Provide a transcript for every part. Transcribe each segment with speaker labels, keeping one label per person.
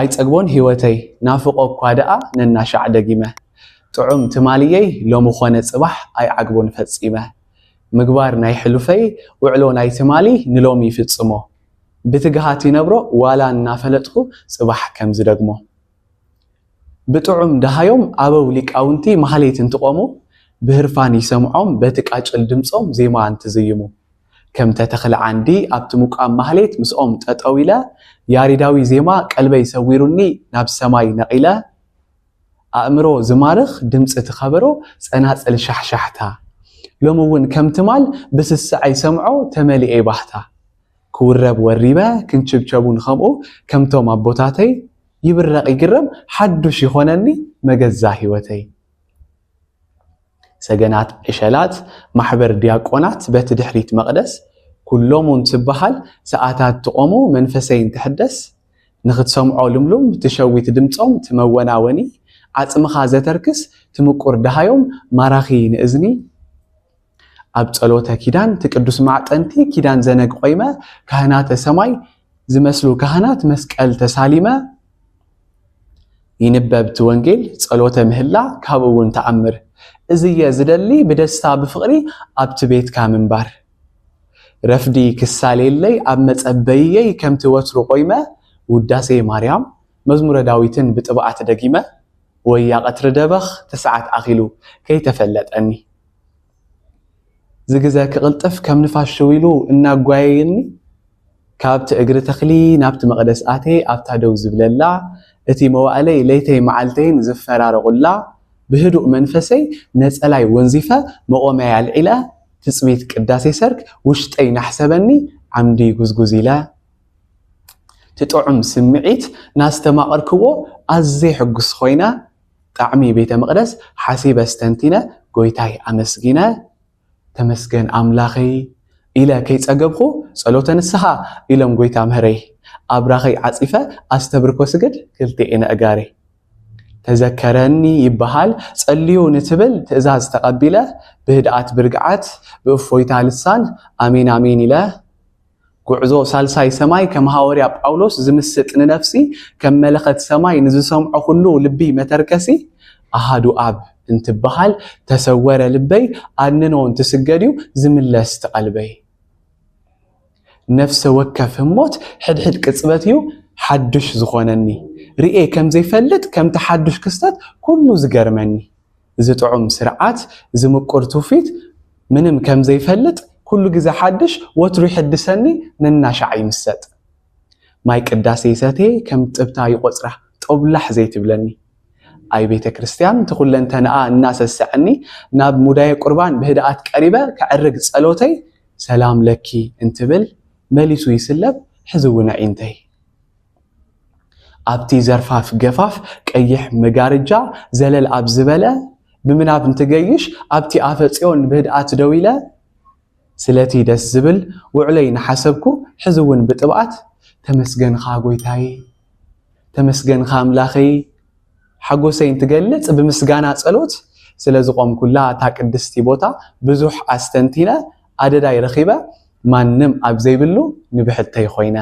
Speaker 1: ኣይጸግቦን ሂወተይ ናፍቆ እኳ ደኣ ነናሻዕ ደጊመ ጥዑም ትማልየይ ሎሚ ኮነ ጽባሕ ኣይዓግቦን ፈጺመ ምግባር ናይ ሕሉፈይ ውዕሎ ናይ ትማሊ ንሎሚ ይፍጽሞ ብትግሃት ይነብሮ ዋላ እናፈለጥኩ ጽባሕ ከም ዝደግሞ ብጥዑም ደሃዮም ኣበው ሊቃውንቲ ማህሌት እንትቆሙ ብህርፋን ይሰምዖም በቲ ቃጭል ድምጾም ዜማ እንትዝይሙ ከም ተተኽለ ዓንዲ ኣብቲ ምቋም ማህሌት ምስኦም ጠጠው ኢለ ያሬዳዊ ዜማ ቀልበይ ሰዊሩኒ ናብ ሰማይ ነቒለ ኣእምሮ ዝማርኽ ድምጺ እቲ ከበሮ ጸናጽል ሻሕሻሕታ ሎሚ እውን ከም ትማል ብስስዐይ ሰምዖ ተመሊኤ ባህታ ክውረብ ወሪበ ክንችብቸብ እውን ከምኡ ከምቶም ኣቦታተይ ይብረቕ ይግረም ሓዱሽ ይኾነኒ መገዛ ህይወተይ ሰገናት ዕሸላት ማሕበር ዲያቆናት በቲ ድሕሪት መቕደስ ኩሎሙ እንትበሃል ሰኣታት ትቖሙ መንፈሰይ እንትሕደስ ንኽትሰምዖ ልምሉም ትሸዊት ድምጾም ትመወናወኒ ዓጽምኻ ዘተርክስ ትምቁር ደሃዮም ማራኺ ንእዝኒ ኣብ ጸሎተ ኪዳን እቲ ቅዱስ ማዕጠንቲ ኪዳን ዘነግ ቆይመ ካህናተ ሰማይ ዝመስሉ ካህናት መስቀል ተሳሊመ ይንበብ እቲ ወንጌል ጸሎተ ምህላ ካብኡ እውን ተኣምር እዝየ ዝደሊ ብደስታ ብፍቕሪ ኣብቲ ቤትካ ምንባር ረፍዲ ክሳሌለይ ኣብ መጸበይየይ ከምቲ ወትሩ ቆይመ ውዳሴ ማርያም መዝሙረ ዳዊትን ብጥብዓት ደጊመ ወያ ቀትሪ ደበኽ ትስዓት ኣኺሉ ከይተፈለጠኒ እዚ ግዘ ክቕልጥፍ ከም ንፋስ ሽው ኢሉ እናጓየየኒ ካብቲ እግሪ ተኽሊ ናብቲ መቕደስ ኣትየ ኣብታ ደው ዝብለላ እቲ መዋእለይ ለይተይ መዓልተይን ዝፈራረቑላ ብህዱእ መንፈሰይ ነፀላይ ወንዚፈ መቖሚያይ ኣልዒለ ትፅቢት ቅዳሴ ሰርክ ውሽጠይ ናሕሰበኒ ዓምዲ ጉዝጉዝ ኢለ እቲ ጥዑም ስምዒት ናስተማቐርክዎ ኣዝየ ሕጉስ ኾይነ ጣዕሚ ቤተ መቅደስ ሓሲበ ኣስተንቲነ ጎይታይ ኣመስጊነ ተመስገን ኣምላኸይ ኢለ ከይጸገብኩ ጸሎተ ንስሓ ኢሎም ጎይታ ምህረይ ኣብራኸይ ዓጺፈ ኣስተብርኮ ስግድ ክልቴኤን ኣእጋረይ ተዘከረኒ ይበሃል ጸልዩ ንትብል ትእዛዝ ተቀቢለ ብህድኣት ብርግዓት ብእፎይታ ልሳን ኣሜን ኣሜን ኢለ ጉዕዞ ሳልሳይ ሰማይ ከም ሃወርያ ጳውሎስ ዝምስጥ ንነፍሲ ከም መለኸት ሰማይ ንዝሰምዖ ኩሉ ልቢ መተርከሲ ኣሃዱ ኣብ እንትበሃል ተሰወረ ልበይ ኣድንኖ እንትስገድዩ ዝምለስ ትቐልበይ ነፍሰ ወከፍ ህሞት ሕድሕድ ቅጽበትዩ ሓዱሽ ዝኾነኒ ርእየ ከም ዘይፈልጥ ከምቲ ሓዱሽ ክስተት ኩሉ ዝገርመኒ እዚ ጥዑም ስርዓት፣ እዚ ምቁር ትውፊት ምንም ከም ዘይፈልጥ፣ ኩሉ ግዘ ሓድሽ ወትሩ ይሕድሰኒ ነናሻዕ ይምሰጥ። ማይ ቅዳሴ ይሰትየ ከም ጥብታ ይቖጽራ ጦብላሕ ዘይትብለኒ። ኣይ ቤተ ክርስቲያን እቲ ኩለንተንኣ እናሰሰዐኒ ናብ ሙዳየ ቁርባን ብህድኣት ቀሪበ ከዕርግ ጸሎተይ ሰላም ለኪ እንትብል መሊሱ ይስለብ ሕዚ እውን ኣዒንተይ ኣብቲ ዘርፋፍ ገፋፍ ቀይሕ መጋርጃ ዘለል ኣብ ዝበለ ብምናብ እንትገይሽ ኣብቲ ኣፈ ጽዮን ብህድኣት ደው ኢለ ስለቲ ደስ ዝብል ውዕሎይ እናሓሰብኩ ሕዚ እውን ብጥብኣት ተመስገንኻ ጎይታየ ተመስገንኻ ኣምላኸይ ሓጎሰይ እንትገልጽ ብምስጋና ጸሎት ስለ ዝቖምኩላ እታ ቅድስቲ ቦታ ብዙሕ ኣስተንቲነ ኣደዳይ ረኺበ ማንም ኣብ ዘይብሉ ንብሕተይ ኮይነ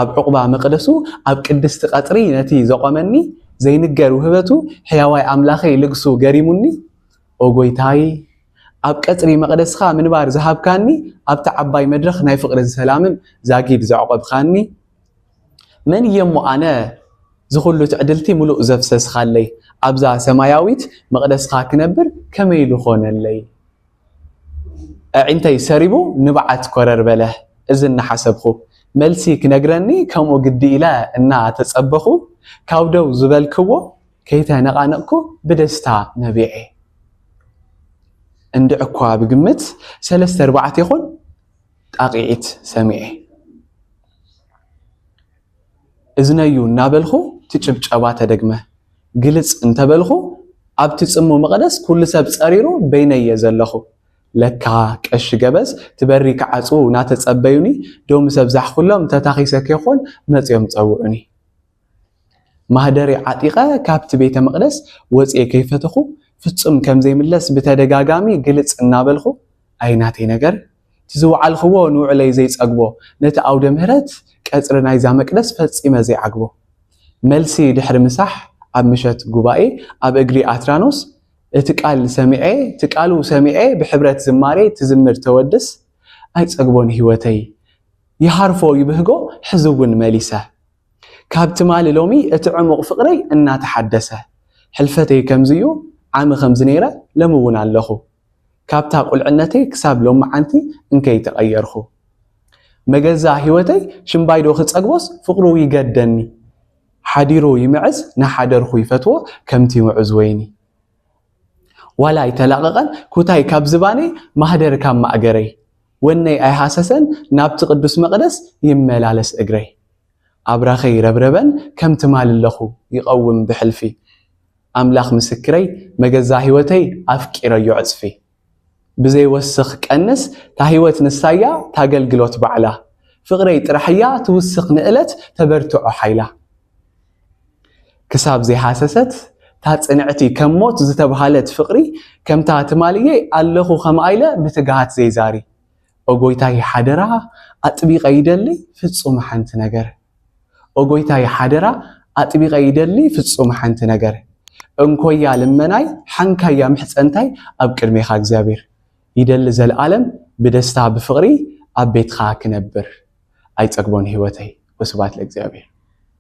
Speaker 1: ኣብ ዕቝባ መቕደሱ ኣብ ቅድስቲ ቐጽሪ ነቲ ዘቖመኒ ዘይንገር ውህበቱ ሕያዋይ ኣምላኸይ ልግሱ ገሪሙኒ ኦ ጐይታይ ኣብ ቀጽሪ መቕደስካ ምንባር ዝሃብካኒ ኣብቲ ዓባይ መድረኽ ናይ ፍቕርን ሰላምን ዛጊድ ዘዕቆብካኒ መን እየ እሞ ኣነ ዝኹሉ ትዕድልቲ ምሉእ ዘፍሰስኻለይ ኣብዛ ሰማያዊት መቕደስካ ክነብር ከመይ ኢሉ ኾነለይ ኣዒንተይ ሰሪቡ ንብዓት ኮረር በለ። እዚ እናሓሰብኹ። መልሲ ክነግረኒ ከምኡ ግዲ ኢለ እናተጸበኹ ካብ ደው ዝበልክዎ ከይተነቓነቕኩ ብደስታ ነቢዔ። እንድዒ'ኳ ብግምት ሰለስተ ኣርባዕተ ይኹን ጣቒዒት ሰሚዔ። እዝነዩ እናበልኹ እቲ ጭብጨባ ተደግመ። ግልጽ እንተበልኹ ኣብቲ ጽምው መቐደስ ኩሉ ሰብ ጸሪሩ በይነይ እየ ዘለኹ። ለካ ቀሺ ገበዝ እቲ በሪ ክዓጽዉ ናተጸበዩኒ ዶ ምስ ኣብዛሕኩሎም ተታኺሰ ከይኮን መጺኦም ጸውዑኒ። ማህደረይ ዓጢቐ ካብቲ ቤተ መቕደስ ወጺኤ ከይፈተኹ ፍጹም ከምዘይምለስ ብተደጋጋሚ ግልጽ እናበልኹ ኣይ ናተይ ነገር፣ እቲ ዝወዓልክዎ ንውዕለይ ዘይጸግቦ፣ ነቲ ኣውደ ምህረት ቀጽሪ ናይዛ መቅደስ ፈጺመ ዘይዓግቦ። መልሲ ድሕሪ ምሳሕ ኣብ ምሸት ጉባኤ ኣብ እግሪ ኣትራኖስ እቲ ቃል ሰሚዔ እቲ ቃሉ ሰሚዔ ብሕብረት ዝማሬ ትዝምር ተወድስ ኣይጸግቦን ሕይወተይ ይሃርፎ ይብህጎ ሕዚ እውን መሊሰ ካብ ትማሊ ሎሚ እቲ ዕሙቅ ፍቅረይ እናተሓደሰ ሕልፈተይ ከምዚ እዩ ዓሚ ከምዚ ነይረ ለሚ እውን ኣለኹ ካብታ ቁልዕነተይ ክሳብ ሎምዓንቲ እንከይ ተቀየርኩ መገዛ ሂወተይ ሽምባይዶ ክጸግቦስ ፍቅሩ ይገደኒ ሓዲሩ ይምዕዝ ናሓደርኩ ይፈትዎ ከምቲ ሙዑዝ ወይኒ ዋላ ኣይተላቀቀን ኩታይ ካብ ዝባነይ ማህደር ካብ ማእገረይ ወነይ ኣይሃሰሰን ናብቲ ቅዱስ መቅደስ ይመላለስ እግረይ ኣብራከይ ረብረበን ከም ትማሊ ኣለኩ ይቀውም ብሕልፊ ኣምላኽ ምስክረይ መገዛ ሂወተይ ኣፍቂረዮ ዕጽፊ ብዘይ ወስኽ ቀንስ ታሂወት ንሳያ ታገልግሎት ባዕላ ፍቅረይ ጥራሕያ ትውስኽ ንእለት ተበርትዖ ሓይላ ክሳብ ዘይሃሰሰት ታጽንዕቲ ከም ሞት ዝተብሃለት ፍቅሪ ከምታ ትማልየይ ኣለኹ ከምኣኢለ ብትግሃት ዘይዛሪ ኦ ጎይታይ ሓደራ ኣጥቢቀ ይደሊ ፍጹም ሓንቲ ነገር ኦ ጎይታይ ሓደራ ኣጥቢቀ ይደሊ ፍጹም ሓንቲ ነገር እንኮያ ልመናይ ሓንካያ ምሕጸንታይ ኣብ ቅድሜካ እግዚኣብሔር ይደሊ ዘልኣለም ብደስታ ብፍቅሪ ኣብ ቤትካ ክነብር ኣይጸግቦን ሂወተይ ወስብሃት ለእግዚኣብሔር።